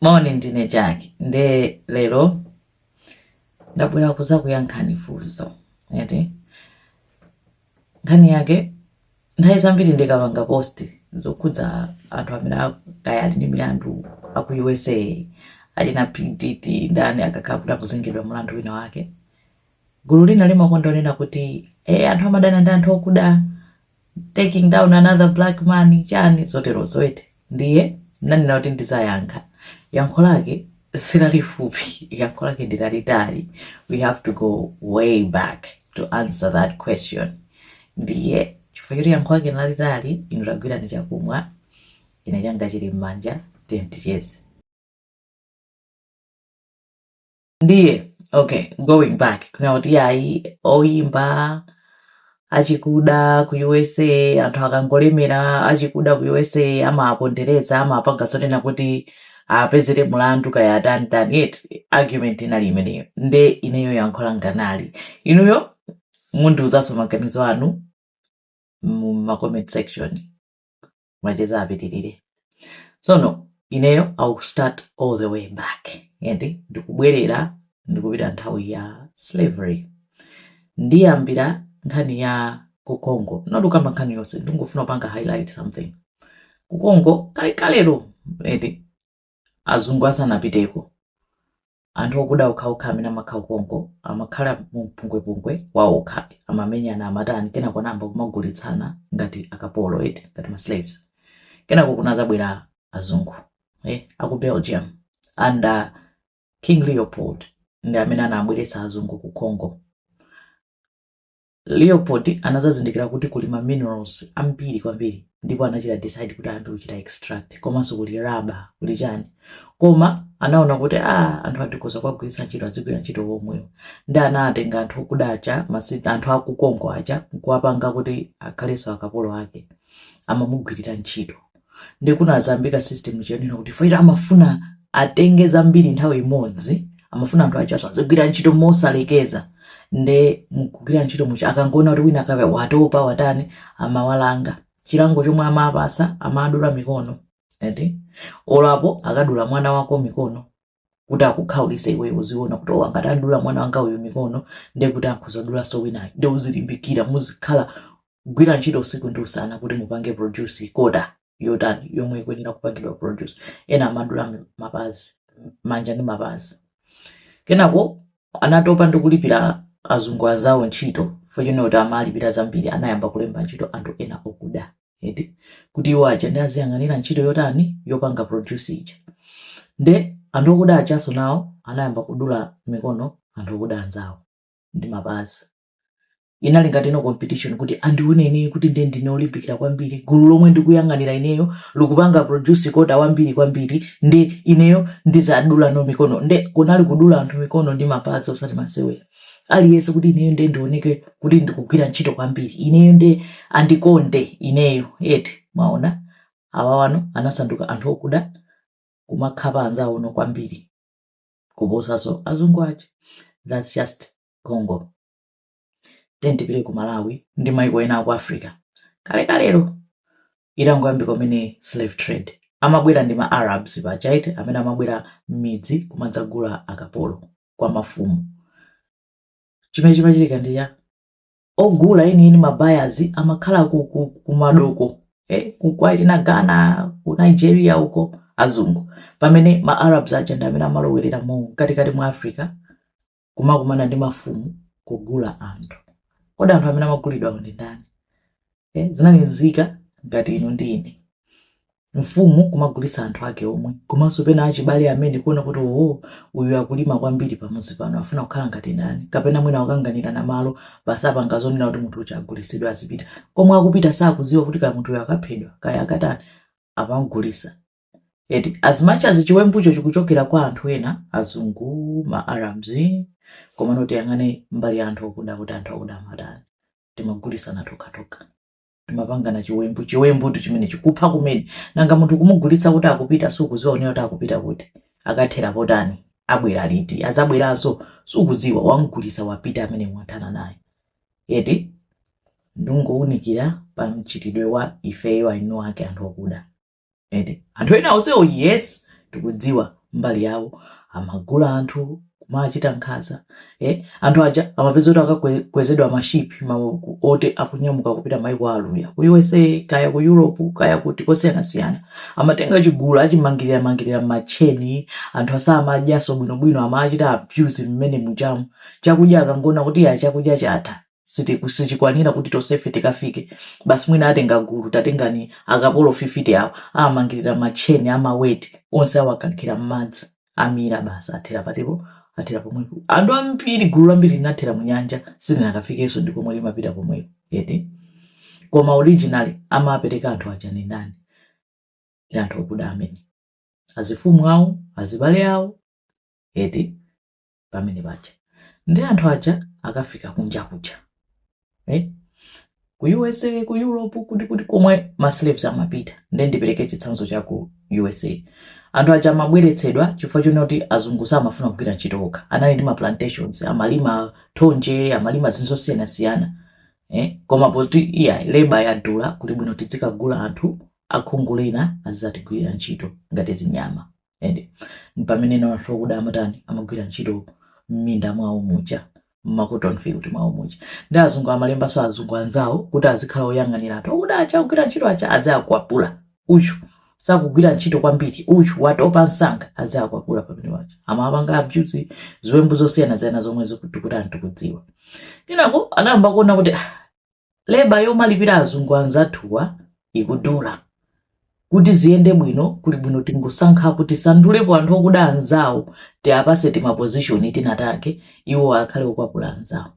moni ndine Jack nde lero ndabwera kuzakuyankhani funso eti nkhani yake nthawi zambiri ndikapanga post zokhudza anthu amene a- kaya ali ndi milandu aku usa achina P Diddy ndani akakhala kuti akuzengedwa mulandu wina wake gulu lina limakonda kunena kuti e anthu amadana ndi anthu okuda taking down another black man chani zoterozo eti ndiye nanena kuti ndizayankha yankho lake silalifupi yankho lake ndilalitali we have to go way back to answer that question ndiye chifukwa choti yankho lake nilalitali inu tagwirani chakumwa ine changa chili m'manja tiyeni ticheze ndiye okay going back kunena kuti yayi oyimba achikuda ku usa anthu akangolemera achikuda ku usa amawapondereza amapanga zonena kuti apezere mulandu kaya atani tani eti argument inali imeneyo nde ineyo yankho langa nali inuyo mundiuzanso maganizo anu mu ma comment section macheza apitirire sono ineyo i will start all the way back eti ndikubwerera ndikupita nthawi ya slavery ndiyambira nkhani ya ku congo not kukamba nkhani yonse ndingofuna kupanga highlight something ku congo kalekalero eti Azungu asanapiteko, anthu okuda okhaokha amene amakhala ku Congo amakhala mu mpungwepungwe waokha, amamenyana, amatani, kenako anayamba kumagulitsana ngati akapolo eti, ngati ma slaves. Kenako kunazabwera azungu eh, aku Belgium under King Leopold ndi amene anabweretsa azungu ku Congo. Leopold anadzazindikira kuti kuli ma minerals ambiri kwambiri ndipo anachita decide kuti ayambe kuchita extract komanso kuli rubber kuli chani koma anaona kuti a anthuwa tikhoza kuwagwiritsa ntchito adzigwira ntchito omwewo nde anatenga anthu okuda aja masi anthu aku Congo aja nkuwapanga kuti akhalenso akapolo ake amamugwirira ntchito nde kunazayambika system yonena kuti chifukwa choti amafuna atenge zambiri nthawi imodzi amafuna anthu ajanso azigwira ntchito mosalekeza nde mkugwira ntchito muja akangoona kuti wina kaya watopa watani amawalanga chilango chomwe amawapatsa amadula mikono eti olo apo akadula mwana wako mikono kuti akukhaulise iweyo uziona kuti oh ngati adula mwana wanga uyu mikono ndiye kuti akhoza kudulanso winayo nde uzilimbikira muzikhala gwira ntchito usiku ndi usana kuti mupange produce quota yotani yomwe ikuyenera kupangidwa produce ena amadula mapazi manja ndi mapazi kenako anatopa ndi kulipira azungu anzawo ntchito chifukwa chonena kuti amalipira zambiri anayamba kulemba ntchito anthu ena okuda eti kuti iwo aja ndi aziyang'anira ntchito yotani yopanga produce ija nde anthu okuda ajanso nawo anayamba kudula mikono anthu okuda anzawo ndi mapazi inali ngati no competition kuti andioneni kuti nde ndine olimbikira kwambiri gulu lomwe ndikuyang'anira ineyo likupanga produce kota wambiri kwambiri nde ineyo ndizadula no mikono nde kunali kudula anthu mikono ndi mapazi osati masewera aliyense kuti ineyo nde ndioneke kuti ndikugwira ntchito kwambiri ineyo nde andikonde ineyo eti mwaona awawano anasanduka anthu okuda kumakhapa anzawono kwambiri kuposanso azungu aja thats just congo then tipite ku malawi ndi maiko ena aku africa kalekalelo itangoyambika kumene slave trade amabwera ndi ma arabs pachaite amene amabwera m'midzi kumadzagula akapolo kwa mafumu chimene chimachitika ndi cha ogula enieni mabayazi amakhala ku- ku- kumadoko eh, ku- kwa china Ghana ku nigeria uko azungu pamene ma arabs aja ndi amene amalowerera mu katikati mwa africa kumakumana ndi mafumu kugula anthu kodi anthu amene amagulidwawo ndi ndani eh, zinali nzika ngati inu ndi ine mfumu kumagulitsa anthu ake omwe komanso pena achibale amene kuona kuti oho uyu akulima kwambiri pamuzi pano afuna kukhala ngati ndani kapena mwina akanganirana malo basi apanga zonena kuti munthu uja agulitsidwe azipita komwe akupita sakuziwa kuti kaya munthuyo akaphedwa kaya akatani amamgulisa eti as much as chiwembucho chikuchokera kwa anthu ena azungu ma arabs komano tiyang'ane mbali ya anthu okuda kuti anthu akuda amatani timagulisana tokhatokha timapangana chiwembu chiwembutu chimenechi kupha kumene nanga munthu kumugulitsa kuti akupita sukuziwa unena kuti akupita kuti akathera potani abwera liti adzabweranso sukudziwa wamgulitsa wapita amene mwathana naye eti ndungowunikira pa mchitidwe wa ifeyo aeni ake anthu okuda eti anthu ena onsewo yes tikudziwa mbali yawo amagula anthu kumachita nkhanza eh, anthu aja amapeza kuti akakwezedwa m'mashipi ma, oti akunyamuka kupita maiko aluya ku usa kaya ku europe kaya kuti kosiyanasiyana amatenga chigulu achimangirira mangirira mmatcheni anthu asamadyaso bwinobwino amachita abuse mmenemujamu chakudya akangoona kuti ya chakudya chatha sitiku- sichikwanira kuti tonsefe tikafike basi mwina atenga gulu tatengani akapolo 50 awo amangirira matcheni ndi maweti onse awakankhira m'madzi amira basi athera patipo athera pomwepo anthu ambiri gulu lambiri linathera mu nyanja silinakafikenso ndi komwe limapita komweko eti koma originally amapereka anthu aja ndi ndani ndi anthu okuda amene azifumu awo azibale awo eti pamene paja ndiye anthu aja akafika kunja kuja eh? ku usa ku europe kuti komwe ma slaves amapita nde ndipereke chitsanzo cha ku usa anthu aja amabweretsedwa chifukwa chonena kuti azungu samafuna kugwira ntchito okha anali ndi ma plantations amalima thonje amalima zinthu zosiyanasiyana eh? koma poti iya leba yadula kuti bwino tidzikagula anthu akhungu lina azidzatigwirira ntchito ngati zinyama Inde, mpamene anthu okuda amatani, amagwira ntchito m'minda mwawo muja, m'ma cotton field mwawo muja, ndiye azungu amalembanso azungu anzawo kuti azikhala oyang'anira anthu okuda aja, akugwira ntchito aja aziakwapula, uyu sakugwira ntchito kwambiri, uyu watopa msanga, aziakwapula pamene paja, amawapanga abuse, ziwembu zosiyanasiyana zomwe zoti anthu tikudziwa. Kenako anayamba kuona kuti ah, Leba yomalipira azungu anzathuwa ikudula. Kuti ziyende bwino kuli bwino tingosankhapo tisandulepo anthu okuda anzawo tiapase tima position tina take iwo akhale okwapula anzawo.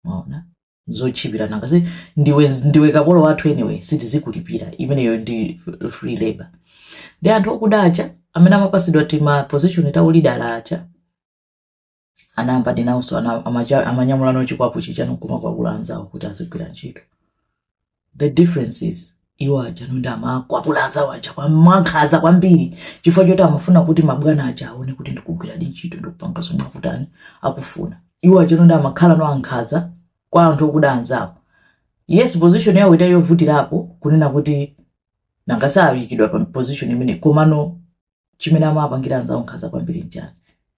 Mwaona? Zotchipira nanga si ndiwe kapolo wathu anyway sitizikulipira imeneyo ndi free labor. Ndi anthu okuda aja amene amapasidwa tima position ta ulida aja. anayambadi nawonso ana- amacha- amanyamula nawo chikwapu chija nkumakwapula anzawo kuti azigwira ntchito the difference is iwo aja no nde amakwapula anzawo aja kwa- mwankhaza kwambiri chifukwa choti amafuna kuti mabwana aja aone kuti ndikugwiradi ntchito ndikupanga zomwe akutani akufuna iwo aja no nde amakhala no ankhaza kwa anthu okuda anzawo yes position yawo inali yovutirapo kunena kuti nanga si ayikidwa pa position imene komano chimene amapangira anzawo nkhaza kwambiri nchani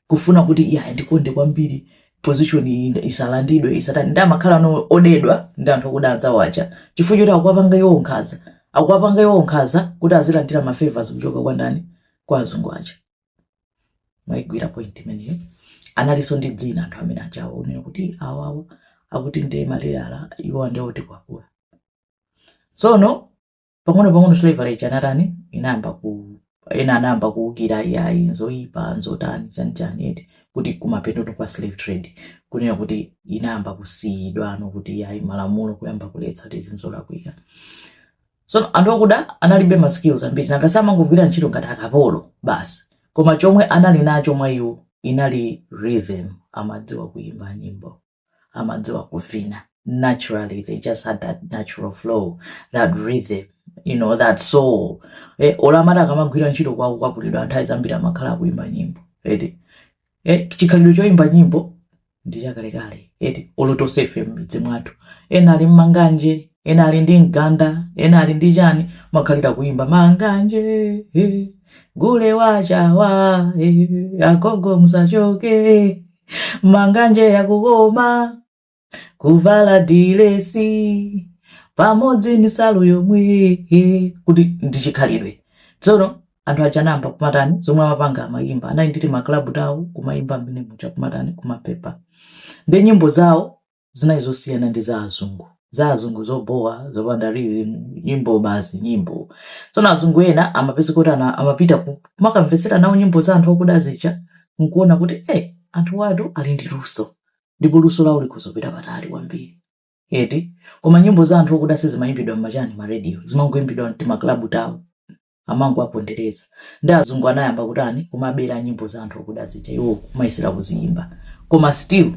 kufuna kuti iyayi andikonde kwambiri position iyi nda- isalandidwe isatani ndi amakhala no odedwa ndi anthu okuda anzawo aja chifukwa choti akuwapanga iwowo nkhaza akuwapanga iwowo nkhaza kuti azilandira mafavors kuchoka kwa ndani kwa azungu aja mwaigwira point imeneyo analinso ndi dzina anthu amene ajawo onena kuti awawa akuti ndi maleyala iwo ndi otikwapula sono pang'ono pang'ono slavery ija anatani inayamba ku ena anayamba kuwukira iyayi nzoyipa nzotani chani chani eti kuti kumapeto no kwa slave trade kunena kuti inayamba kusiyidwa no kuti iyayi malamulo kuyamba kuletsa kuti izi nzolakwika so anthu okuda analibe ma skills ambiri nanga si amangogwira ntchito ngati akapolo basi koma chomwe anali nacho mwa iwo inali rhythm amadziwa kuyimba nyimbo amadziwa kuvina naturally they just had that natural flow that rhythm you know that soul eh, olo amati akamagwira ntchito kwawo kukwapulidwa nthawi zambiri amakhala akuimba nyimbo eti eh, chikhalidwe choimba nyimbo ndi chakalekale eti olo tonse ife m'midzi mwathu ena ali ndi manganje ena ali ndi mganda ena ali ndi chani mukakhala mukuimba manganje eh, gule wachawa eh, agogo musachoke manganje yakukoma kuvala dilesi pamodzi ndi salu yomwe kuti ndi chikhalidwe tsono anthu aja anayamba kumatani zomwe amapanga amayimba anali nditi maklabu tawo kumayimba mmene muja kumatani kumapepako ndi nyimbo zawo zinali zosiyana ndi za azungu za azungu zobhowa zopanda rhythm nyimbo basi nyimbo tsono azungu ena amapeza kuti amapita ku- kumakamvetsera nawo nyimbo za anthu okuda zija nkuona kuti eh anthu awatu ali ndi luso ndipo luso lawo likhoza kupita patali kwambiri eti koma nyimbo za anthu okuda sizimayimbidwa m'machani ma radio zimangoyimbidwa mtimaklabu tawo amangowapondereza ndi azungu anayamba kutani kumabera nyimbo za anthu okuda zija iwo kumayesera kuziyimba koma still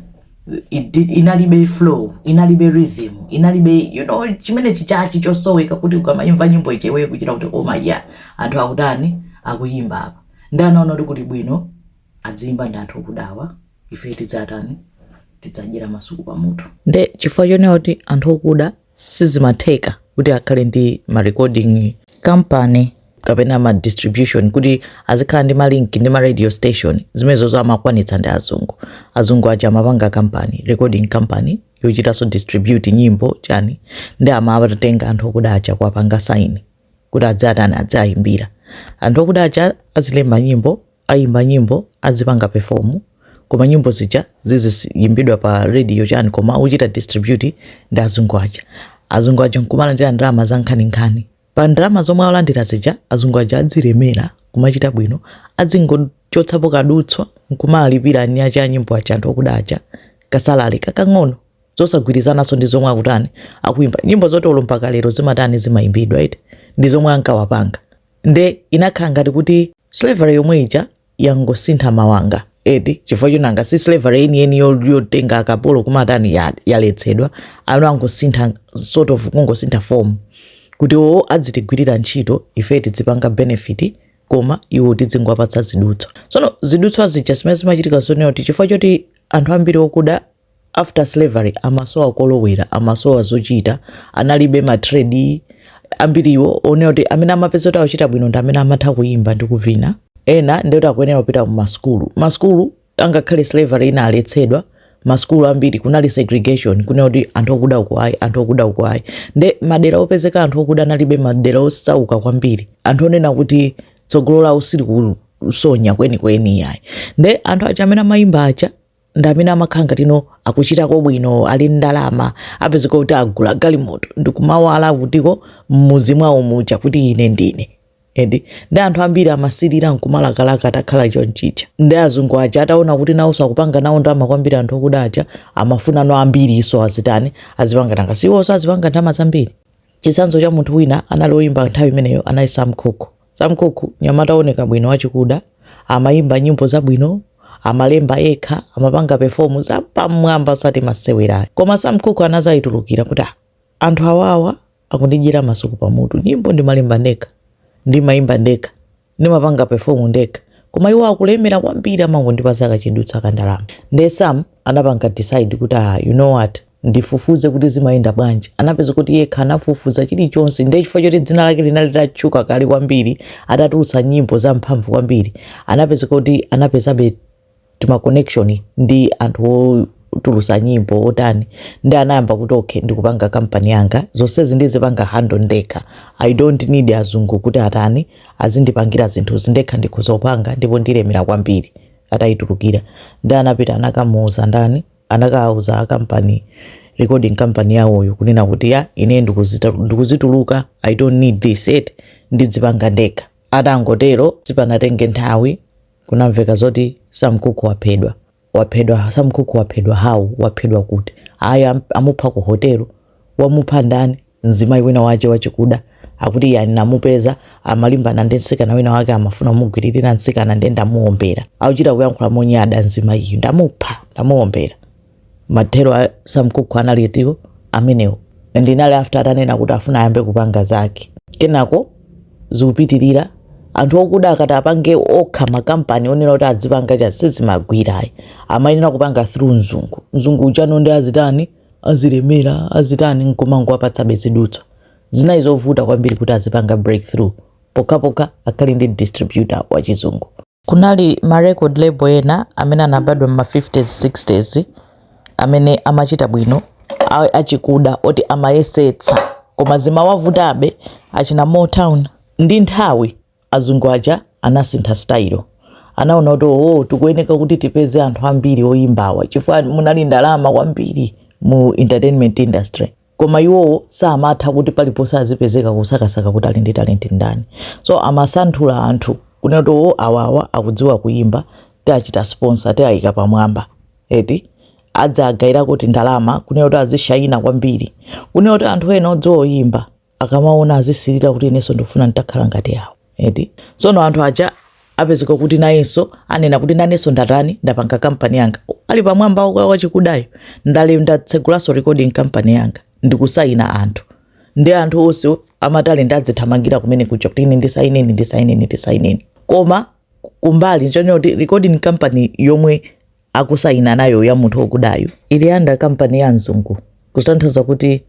it inalibe flow inalibe rhythm inalibe you know chimene chijachi chosoweka kuti ukamayimva nyimbo ija iwe kuchita kuti koma ya anthu akutani akuyimba apa ndi anaona kuti kuli bwino adziyimba ndi anthu okudawa ife tidzatani tidzadyera masuku pamutu nde chifukwa chonena kuti anthu okuda sizimatheka kuti akhale ndi ma recording company kapena ma distribution kuti azikhala ndi ma link ndi ma radio station zimenezozo amakwanitsa ndi azungu azungu aja amapanga company recording company yochitanso distribute nyimbo chani ndi amawatenga anthu okuda aja kuwapanga saini kuti adzitani adziyimbira anthu okuda aja azilemba nyimbo aziyimba nyimbo azipanga perform koma nyimbo zija ziziyimbidwa pa radio chani koma akuchita distribute ndi azungu aja azungu aja nkumalandira ndalama za nkhaninkhani pa ndalama zomwe alandira zija azungu aja adzilemera kumachita bwino adzingochotsapo kadutswa nkumalipira eni ake a nyimbo aja anthu okuda aja kasalale kakang'ono zosagwirizananso ndi zomwe akutani akuimba nyimbo zoti olo mpaka lero zimatani zimayimbidwa eti ndi zomwe ankawapanga nde inakhala ngati kuti slavery yomwe ija yangosintha mawanga eti chifukwa chonena kuti slavery yeniyeni yo- yotenga akapolo kumatani ya- yaletsedwa ano angosintha sort of kungosintha form kuti awo adzitigwirira ntchito ife tidzipanga benefit koma iwo tidzingowapatsa zidutswa tsono zidutswa zija zimene zimachitika zonena kuti chifukwa choti anthu ambiri okuda after slavery amasowa kolowera amasowa zochita analibe ma trade ambiriwo onena kuti amene amapeza kuti akuchita bwino ndi amene amatha kuyimba ndi kuvina ena ndikuti akuyenera kupita ku masukulu masukulu angakhale slavery inaletsedwa masukulu ambiri kunali segregation kunena kuti anthu okuda uko ayi anthu okuda uko ayi nde madera opezeka anthu okuda anali madera osauka kwambiri anthu onena kuti tsogolo lawo sili kusonya kwenikweni ayi nde anthu aja amene amayimba aja ndi amene amakhala ngati akuchitako bwino ali ndi ndalama apezeka kuti agula galimoto ndikumawala kutiko m'muzi mwawo muja kuti ine ndine edi ndi anthu ambiri amasirira nkumalakalaka atakhala chonchija nde azungu aja ataona kuti nawonso akupanga nawo ndalama kwambiri anthu okuda aja amafuna no ambirinso azitani azipanga nanga siwonso azipanga ndalama zambiri chitsanzo cha munthu wina anali oyimba nthawi imeneyo anali Sam Cooke Sam Cooke, mnyamata wooneka bwino wachikuda, amaimba nyimbo zabwino, amalemba yekha, amapanga perform zapamwamba osati masewera. Koma Sam Cooke anazayitulukira kuti "Ah, anthu awawa akundidyera masuku pamutu. Nyimbo ndimalemba ndekha, ndimaimba ndekha, ndimapanga perform ndekha. Koma iwo akulemera kwambiri amangondipatsa kachidutsa ka ndalama. Ndiye Sam anapanga decide kuti ah, you know what? ndifufuze kuti zimayenda bwanji anapeza kuti yekha anafufuza chilichonse ndiye chifukwa choti dzina lake linali litatchuka kale kwambiri atatulutsa nyimbo za mphamvu kwambiri anapeza kuti anapezabe timaconnection ndi anthu otulutsa nyimbo otani nde anayamba kuti okay ndikupanga kampani yanga zonsezi ndizipanga handle ndekha i don't need azungu kuti atani azindipangira zinthuzi ndekha ndikhoza kupanga ndipo ndilemera kwambiri atayitulukira nde anapita anakamuuza ndani anakauza a company recording company yawoyo kunena kuti ya ine ndikuzituluka i don't need this shit ndidzipanga ndekha atangotero sipanatenge nthawi kunamveka zoti Sam Cooke waphedwa waphedwa Sam Cooke waphedwa how waphedwa kuti ayi am- amupha ku hotelo wamupha ndani Mzimayi wina wache wachikuda akuti iye ndinamupeza amalimbana ndi mtsikana wina wake amafuna kumugwiririra mtsikana ndiye ndamuombera. Akuchita kuyankhula monyada mzimayiyu. Ndamupha, ndamuombera. Mathero a Sam Cooke anali eti amenewo. And inali after atanena kuti afuna ayambe kupanga zake. Kenako zikupitirira anthu okuda akati apange okha makampani onena kuti adzipanga chani sizimagwira ayi. Amayenera kupanga through mzungu. Mzungu uja nde azitani azilemera azitani nkumangowapatsabe zidutswa zinali zovuta kwambiri kuti azipanga breakthrough pokhapokha akhale ndi distributor wa chizungu Kunali ma record label ena amene anabadwa mma 50s 60s amene amachita bwino a- achikuda oti amayesetsa koma zimawavutabe achina Motown ndi nthawi Azungu aja anasintha style. Anaona kuti ooo tikuyeneka kuti tipeze anthu ambiri oyimba awa chifukwa munali ndalama kwambiri mu entertainment industry. Koma iwowo samatha kuti paliponse azipezeka kusakasaka kuti ali ndi talent ndani. So amasanthula anthu kunena kuti ooo awawa akudziwa kuyimba tiachita sponsor tiayika pamwamba eti adzagairako tindalama kunena kuti azishayina kwambiri kunena kuti anthu ena odziwa oyimba. akamaona azisilira kuti inenso ndikufuna nditakhala ngati awo eti sono anthu aja apezeka kuti nayenso anena kuti nanenso ndatani ndapanga kampani yanga ali pamwamba wa- wachikudayo ndale ndatsegulanso recording kampani yanga ndikusayina anthu ndi anthu onse amatalenti adzithamangira kumene kuja kuti ine ndisayineni ndisayineni ndisayineni koma kumbali nchoncho kuti recording company yomwe akusayina nayo ya munthu okudayu ili under company ya mzungu kutanthauza kuti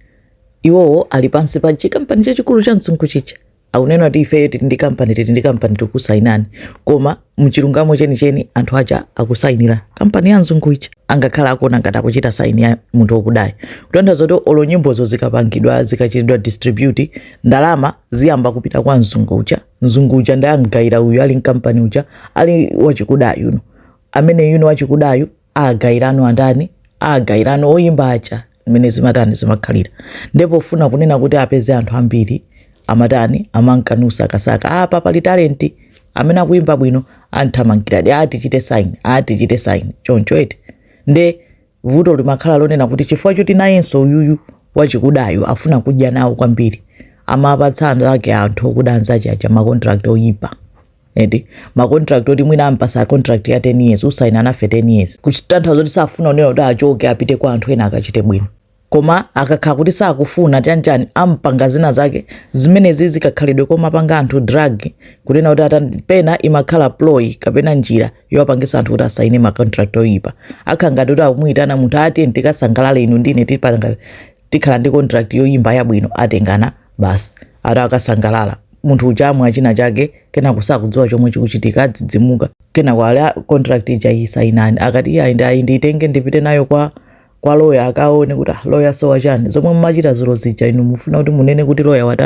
iwowo ali pansi pa chikampani chachikulu cha mzungu chija akunena kuti ifeyo tili ndi kampani tili ndi kampani tikusayinani koma mchilungamo chenicheni anthu aja akusayinira kampani ya mzungu ija angakhale akuona ngati akuchita saini ya munthu okudayo kutanthauza kuti olo nyimbozo zikapangidwa zikachitidwa distribute ndalama ziyamba kupita kwa mzungu uja mzungu uja ndiye amgayira uyu ali ndi kampani uja ali wachikudayu no ameneyuno wachikudayu agairano andani agairano oyimba aja mmene zimatani zimakhalira nde pofuna kunena kuti apeze anthu ambiri amatani amanka nasakasaka apa pali talenti amene akuyimba bwino amthamangira ati tichite saini atichite saini choncho eti nde vuto limakhala lonena kuti chifukwa choti nayenso uyuyu wachikudayo afuna kudya nawo kwambiri amapatsa anthu okuda anzake aja makontrakt oyipa eti makontrakt oti mwina ampasa contract ya 10 years usaina nafe 10 years kutanthauza kuti safuna kunena kuti achoke apite kwa anthu ena akachite bwino koma akakhala kuti sakufuna chanichani ampanga zina zake zimenezi zikakhalidwe kumapanga anthu drug kunena kuti pena imakhala ploy kapena njira yowapangisa anthu kuti asaine ma contract oyipa akhala ngati kuti akumuyitana munthu ati tikasangalale inu ndine tipanga tikhala ndi contract yoyimba yabwino atengana basi ati akasangalala munthu uja amwa china chake kenako sakudziwa chomwe chikuchitika adzidzimuka kenako ali "Ah, contract ija iyi sainani akati iye ayi nde ayi ndiyitenge ndipite nayo kwa kwa loya akaone kuti "Ah, loya so wa chani zomwe mumachita dzulo zija inu mufuna kuti munene kuti loya wati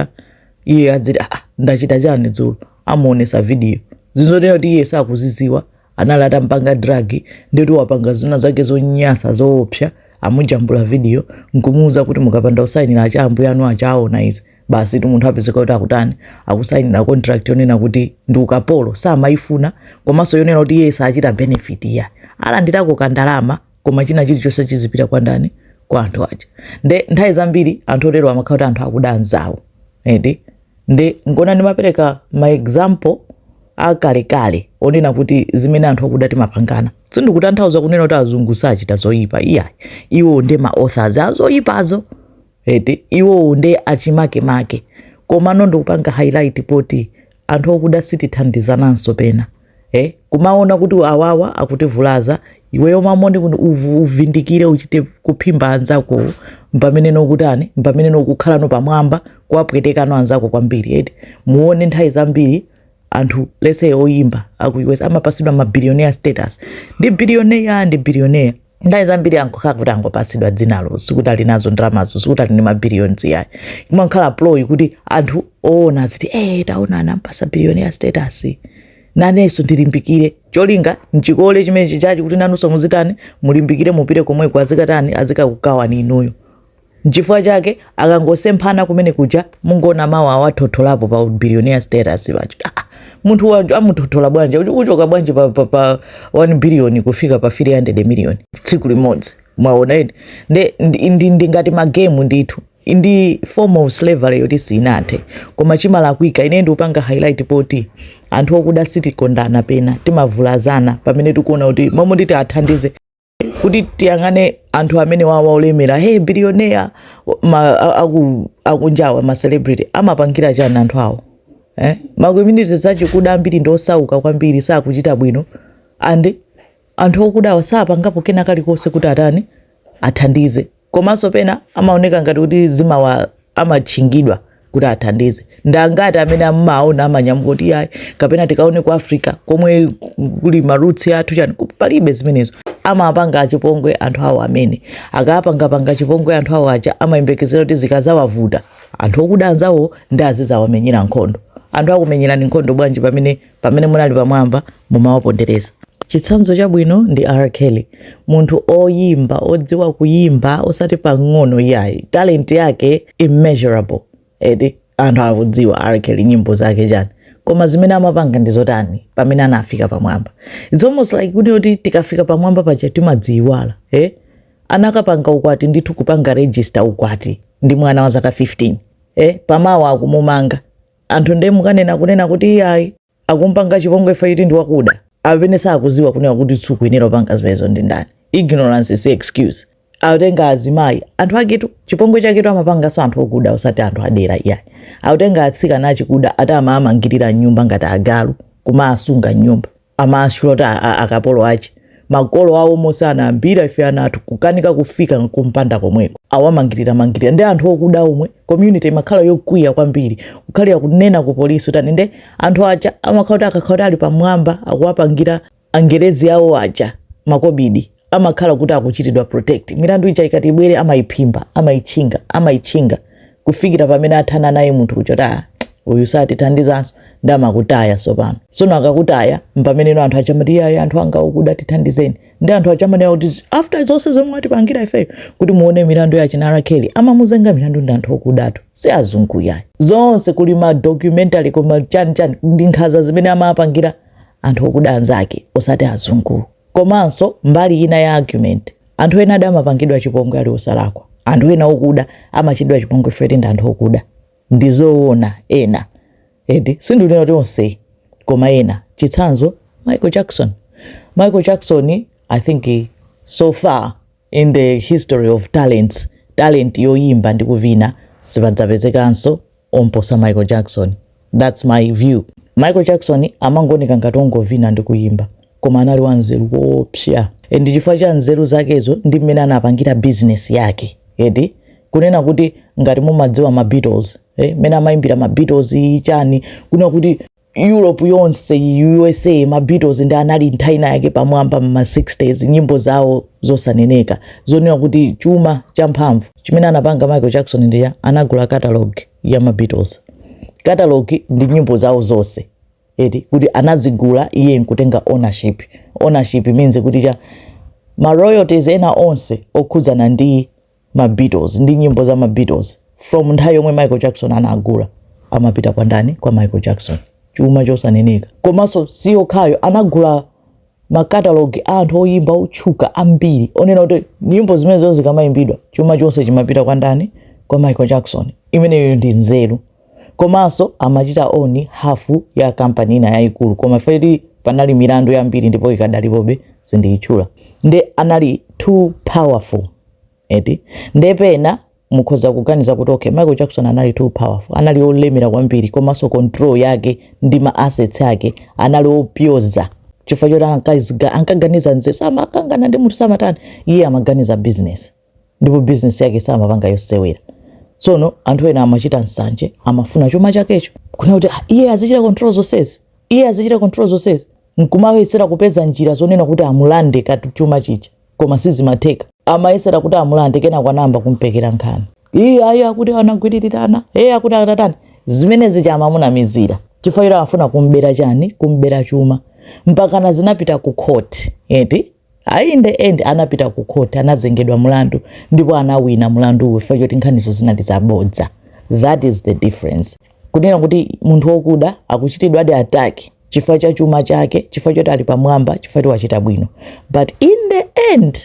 iye adziti aa ah, ndachita chani dzulo amuonesa vidiyo zinthu zoti kuti iye sakuzidziwa anali atampanga dragi nde ati wapanga zina zake zonyasa zoopsa amujambula vidiyo nkumuuza kuti mukapanda kusayinira a tchalitchi anu aja aona izi basitu munthu apezeka kuti akutani akusayinira contract yonena kuti ndi ukapolo samayifuna komanso yonena kuti iye sachita benefit ya alandirako kandalama koma china chilichonse chizipita kwa ndani kwa anthu aja nde nthawi zambiri anthu otero amakhala kuti anthu akuda anzawo eti nde nkuona ndimapereka ma example akalekale onena kuti zimene anthu akuda timapangana sindikutanthauza kunena kuti azungu sachita zoyipa iyayi iwo nde ma authors a zoyipazo eti iwowo nde achimakemake komano ndikupanga highlight poti anthu okuda sitithandizananso pena eh? kumaona kuti awawa akutivulaza iweyo m'malo moti uvu- uvindikire uchite kuphimba anzakowo mpamene nokutani mpamene nokukhala no pamwamba kuwapwetekano anzako kwambiri eti muone nthawi zambiri anthu let's say oyimba aku us amapatsidwa ma billionaire status ndi billionaire ndi billionaire nthawi zambiri amangokhala kuti angopatsidwa dzinalo sikuti ali nazo ndalamazo sikuti ali ndi mabilions yayi imakhala ploy kuti anthu oona aziti eh taona anampasa billionaire status nanenso ndilimbikire cholinga nchikole chimene chichachi kuti nanunso muzitani mulimbikire mupite komweko azikatani azikakugawani inuyo Nchifukwa chake akangosemphana kumene kuja mungoona mawa awathotholapo pa billionaire status paja. Ah, ah, munthu wa- amuthothola bwanji Ucho- uchoka bwanji pa, pa, pa 1 billion kufika pa 300 million tsiku limodzi mwaona eti nde ndi, ndi, ndi ngati magemu ndithu ndi form of slavery yoti sinathe koma chimene ndikufuna ine ndikupanga highlight poti anthu okuda sitikondana pena timavulazana pamene tikuona kuti momwe nditi athandize kuti tiyang'ane anthu amene awawa olemera hey billionaire ma, a- aku, akunjawa ma celebrity amapangira chani anthu awo eh? ma community zachikuda ambiri ndi osauka kwambiri sakuchita bwino and anthu okudawa sapangapo kena kalikonse kuti atani athandize komanso pena amaoneka ngati kuti zimawa amatchingidwa kuti athandize ndi angati amene mumaona amanyamuka kuti yayi kapena tikaone ku africa komwe kuli maroots athu chani ku- palibe zimenezo amapanga chipongwe anthu awo amene akapangapanga chipongwe anthu awo aja amayembekezera kuti zikazawavuta anthu okuda anzawo ndi azizawamenyera nkhondo anthu akumenyerani nkhondo bwanji pamene pamene munali pamwamba mumawapondereza. Chitsanzo chabwino ndi R Kelly, munthu oyimba odziwa kuyimba osati pang'ono iyayi, talent yake immeasurable eti anthu akudziwa R Kelly nyimbo zake chani koma zimene amapanga ndi zotani pamene anafika pamwamba. It's almost like kuti oti tikafika pamwamba paja timadziyiwala eh? anakapanga ukwati ndithu kupanga register ukwati ndi mwana wa zaka 15 eh? pamawa akumumanga Anthu nde nkumanena kunena kuti iyayi akumpanga chipongwe chifukwa choti ndi wakuda. Amene sakuziwa kunena kuti sukuyenera kupanga zimenezo ndi ndani? Ignorance si excuse. Akutenga azimayi anthu ake chipongwe chaketu amapanganso anthu okuda osati anthu adera iyayi. Akutenga atsikana achikuda ati amaamangirira m'nyumba ngati agalu kumaasunga m'nyumba. Amaalola akapolo ache, makolo ao omwe amanena ambiri ife ana athu kukanika kufika kumpanda komweko. Awamangirira mangirira ndi anthu okuda omwe community imakhala yokwiya kwambiri kukhala akunena ku police kuti ani nde anthu aja amakhala kuti akakhala kuti ali pamwamba akuwapangira angerezi ao aja makobidi. amakhala kuti akuchitidwa protect milandu ija ikati ibwere amayiphimba amayitchinga amayitchinga kufikira pamene athana naye munthu kuja kuti "Ah, uyu satithandizanso nde amakutaya tsopano tsono akakutaya mpamene anthu achamati iyayi anthu anga okuda tithandizeni ndi anthu achamanena kuti after zonse zomwe mwatipangira ifeyo kuti muone milandu ya achina R. Kelly amamuzenga milandu ndi anthu okudatu si azungu yayi zonse kuli ma documentary koma chani chani ndi nkhaza zimene amapangira anthu okuda anzake osati azungu Komanso mbali ina ya argument anthu enadi amapangidwa chipongwe ali osalakwa. Anthu ena okuda amachitidwa chipongwe chifukwa choti ndi anthu okuda. Ndi zoona ena. Eti sindikunena kuti onse koma ena. Chitsanzo Michael Jackson. Michael Jackson I think so far In the history of talents, talent yoyimba ndi kuvina sipadzapezekanso omposa Michael Jackson. That's my view. Michael Jackson amangooneka ngati ongovina ndi kuyimba, koma anali wanzeru koopsa. And chifukwa cha nzeru zakezo ndi mmene anapangira business yake. Eti kunena kuti ngati mumadziwa ma Beatles, eh, mmene amayimbira ma Beatles chani, kunena kuti europe yonse, usa ma beatles ndi anali nthawi ina yake pamwamba mma 60s nyimbo zawo zosaneneka zonena kuti chuma champhamvu chimene anapanga michael jackson ndi anagula catalog ya ma beatles catalog ndi nyimbo zawo zonse eti kuti anazigula iye nkutenga ownership ownership means kuti ma royalties ena onse okhudzana ndi ma Beatles ndi nyimbo za ma Beatles from nthawi yomwe Michael Jackson anagula amapita kwa ndani kwa Michael Jackson chuma chosaneneka komanso si yokhayo anagula makatalogi a anthu oyimba otchuka ambiri onena kuti nyimbo zimenezo zikamaimbidwa chuma chonse chimapita kwa ndani kwa Michael Jackson imeneyo ndi nzeru komanso amachita own half ya company ina yayikulu koma chifukwa choti panali milandu yambiri ndipo ikadalipobe sindiyitchula nde anali too powerful eti nde pena mukhoza kuganiza kuti okay michael jackson anali too powerful anali olemera kwambiri komanso control yake ndi ma assets ake anali opyoza chifukwa choti ankaziga- ankaganiza nzeru samakangana ndi munthu samatani iye amaganiza business ndipo bizinesi yake samapanga yosewera tsono anthu ena amachita nsanje amafuna chuma chakecho kunena kuti "Ah, iye azichita control zonsezi iye azichita control zonsezi nkumayesera kupeza njira zonena kuti amulande kaya chuma chija koma sizimatheka amayesera kuti amulande kenako anayamba kumpekera nkhani iye ayi akuti anagwiririra ana iye akuti atatani zimene zija amamunamizira chifukwa iwo afuna kumbera chani kumbera chuma mpakana zinapita ku khoti eti a in the end anapita ku court anazengedwa mulandu ndipo anawina mulanduwo chifukwa choti nkhanizo zinali zabodza that is the difference kunena kuti munthu wokuda akuchitidwadi attack chifukwa cha chuma chake chifukwa choti ali pamwamba chifukwa ti wachita bwino but in the end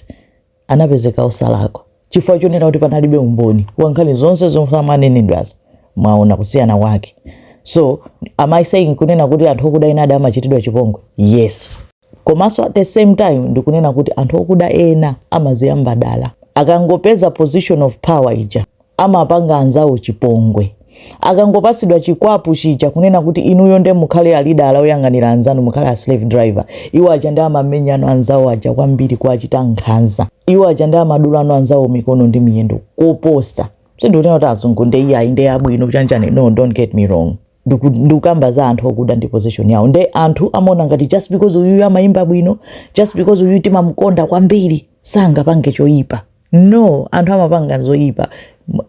anapezeka osalakwa chifukwa chonena kuti panalibe umboni wa nkhani zonse zomwe amanenedwazo mwaona kusiyana kwake so am i saying kunena kuti anthu okuda enadi amachitidwa chipongwe yes Komanso at the same time ndikunena kuti anthu okuda ena amaziyamba dala. Akangopeza position of power ija amapanga anzawo chipongwe. Akangopatsidwa chikwapu chija kunena kuti inuyo nde mukhale alidala oyang'anira anzanu mukhale a slave driver. Iwo aja nde amamenyano anzawo aja kwambiri kuwachita nkhanza. Iwo aja nde amadulano anzawo mikono ndi miyendo koposa. Sindikunena kuti azungu nde iyayi nde abwino chanchani no don't get me wrong. ndikukamba za anthu okuda ndi position yawo nde anthu amaona ngati just because uyuyu amayimba bwino just because uyuyu timamukonda kwambiri sangapange choyipa no anthu amapanga zoyipa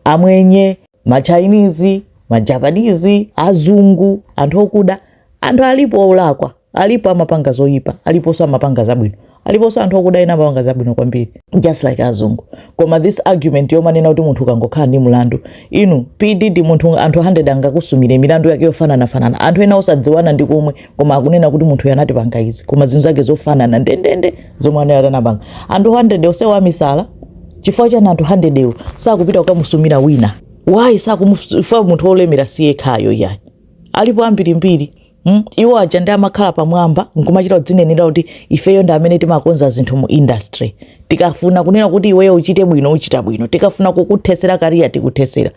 amwenye ma Chinese ma Japanese azungu anthu okuda anthu alipo olakwa Alipo amapanga zoyipa, aliponso amapanga zabwino. Aliponso anthu okuda ena amapanga zabwino kwambiri just like azungu. Koma this argument yomanena kuti munthu ukangokhala ndi mlandu, inu P Diddy munthu anthu 100 angakusumire milandu yake yofananafanana. Anthu ena osadziwana ndi komwe koma akunena kuti munthu uyu anatipanga izi koma zinthu zake zofanana ndendende zomwe anali atapanga. Anthu 100 onsewo amisala chifukwa chani anthu 100 ewo sakupita kukamusumira wina? Why sakumufa munthu wolemera si yekhayo iyayi. Alipo ambirimbiri. Hmm? Iwo aja ndi amakhala pamwamba nkumachita kudzinenera kuti ifeyo ndi amene timakonza zinthu mu industry. Tikafuna kunena kuti iweyo uchite bwino uchita bwino. Tikafuna kukuthesera career tikuthesera.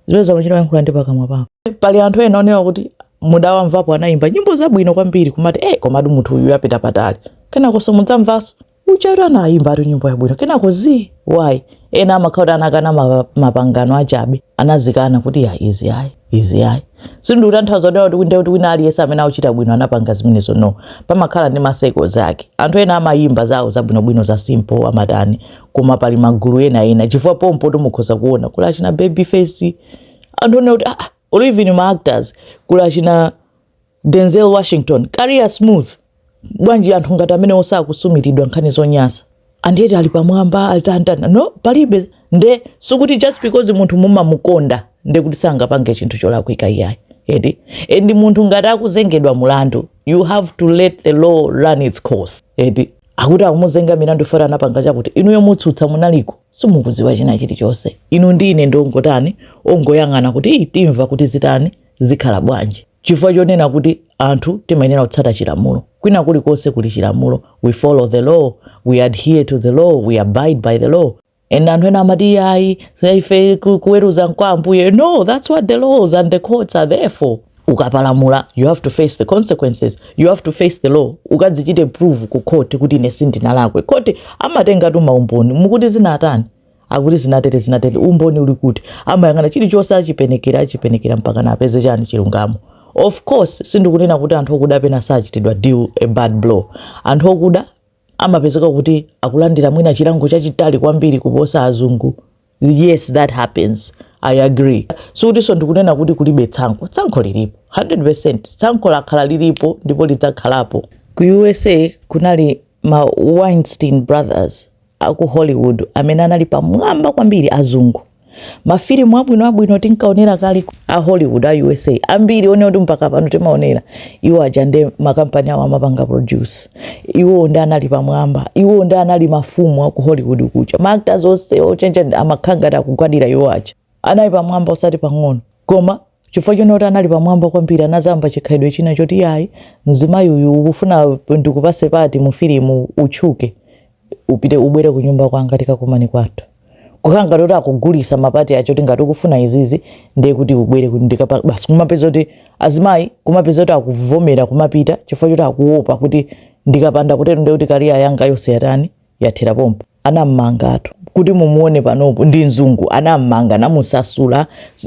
Zimenezi amachita yankhula ndi pakamwa pawo. Pali anthu ena onena kuti mudawamvapo anayimba nyimbo zabwino kwambiri kumati eh komatu munthu uyu apita patali. Kenako simudzamvanso. ujatu anayimbatu nyimbo yabwino kenako zi why ena amakhala anakana ma- mapangano achabe anazikana kuti ya izi ayi izi ayi sindikutanthauza kuti kuti kunde kuti wina aliyense amene akuchita bwino anapanga zimenezo no pamakhala ndi ma circles ake anthu ena amayimba zawo zabwinobwino za simple amatani koma pali magulu ena ena chifukwa pompo timukhoza kuona kuli achina Babyface anthu onena kuti ah, ah, or even ma actors kuli achina Denzel Washington, career smooth bwanji anthu ngati amenewo sakusumiridwa nkhani zonyasa and yet ali pamwamba alitantana no palibe nde sikuti just because munthu mumamukonda nde kuti sangapange chinthu cholakwika iyayi eti and munthu ngati akuzengedwa mulandu you have to let the law run its course eti akuti akumuzenga milandu fera anapanga chakuti inuyo mutsutsa munaliko simukuziwa china chilichonse inu ndi ine ndongotani ongoyang'ana kuti timva kuti zitani Zikhala bwanji? Chifukwa chonena kuti anthu timayenera kutsata chilamulo. Kwina kulikonse kuli chilamulo, we follow the law, we adhere to the law, we abide by the law. And anthu ena amati iyayi, ife ku- kuweruza nkwa Ambuye. No, that's what the laws and the courts are there for. Ukapalamula, you have to face the consequences. You have to face the law. Ukadzichite prove ku court kuti ine sindinalakwe. Court amatengatu maumboni. Mukuti zinatani? akuti zinatere zinatere umboni uli kuti amayang'ana chilichonse achipenekera achipenekera mpaka napeze chani chilungamo of course sindikunena kuti anthu okuda pena sachitidwa deal a bad blow anthu okuda amapezeka kuti akulandira mwina chilango chachitali kwambiri kuposa azungu yes that happens i agree sikutinso ndikunena kuti kulibe tsankho tsankho lilipo 100 tsankho lakhala lilipo ndipo lidzakhalapo ku usa kunali ma weinstein brothers a ku Hollywood amene anali pamwamba kwambiri azungu. Mafilimu abwinoabwino tinkaonera kale a Hollywood a USA ambiri one kuti mpaka pano timaonera iwo aja ndi makampani awo amapanga produce iwo ndi anali pamwamba iwo ndi anali mafumu a ku Hollywood kucha ma actors onse ochenja amakhala ngati akugwadira iwo aja anali pamwamba osati pang'ono koma chifukwa choti anali pamwamba kwambiri anazayamba chikhalidwe china choti yayi mzimayi uyu ukufuna ndikupase pati mu filimu utchuke upite ubwere ku nyumba kwanga tikakumane kwathu kukhala ngati kuti akugulisa mapati acho tingati ukufuna izizi ndiye kuti ubwere kuti ndikapa basi kumapeza kuti azimayi kumapeza kuti akuvomera kumapita chifukwa choti akuopa kuti ndikapanda kutero ndiye kuti kariya yanga yonse yatani yathera pompo anammangatu kuti mumuone panopo ndi mzungu anammanga namusasula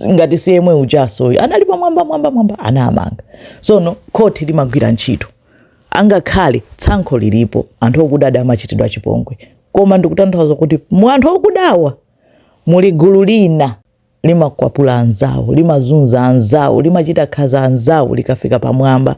ngati si yemwe ujasoyo anali pamwamba mwamba mwamba anamanga sono khoti limagwira ntchito angakhale tsankho lilipo anthu okudadi amachitidwa chipongwe koma ndikutanthauza kuti mu anthu okudawa muli gulu lina limakwapula anzawo limazunza anzawo limachita nkhanza anzawo likafika pamwamba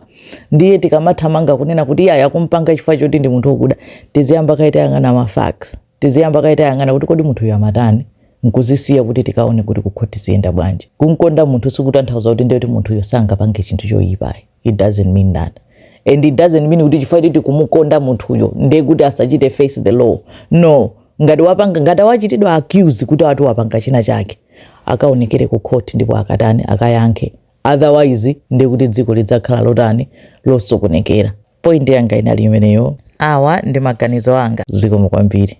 ndiye tikamathamanga kunena kuti iyayi akumpanga chifukwa choti ndi munthu okuda tiziyamba kaye tayang'ana ma facts tiziyamba kaye tayang'ana kuti kodi munthuyu amatani nkuzisiya kuti tikaone kuti kukhoti ziyenda bwanji kumkonda munthu sikutanthauza kuti ndiye kuti munthuyo sangapange chinthu choyipayi it doesn't mean that and it doesn't mean kuti chifukwa choti kumukonda munthuyo ndiye kuti asachite face the law no ngati wapanga ngati wachitidwa accuse kuti ati wapanga china chake akaonekere ku court ndipo akatani akayankhe otherwise ndiye kuti dziko lidzakhala lotani losokonekera point yanga inali imeneyo awa ndi maganizo anga zikomo kwambiri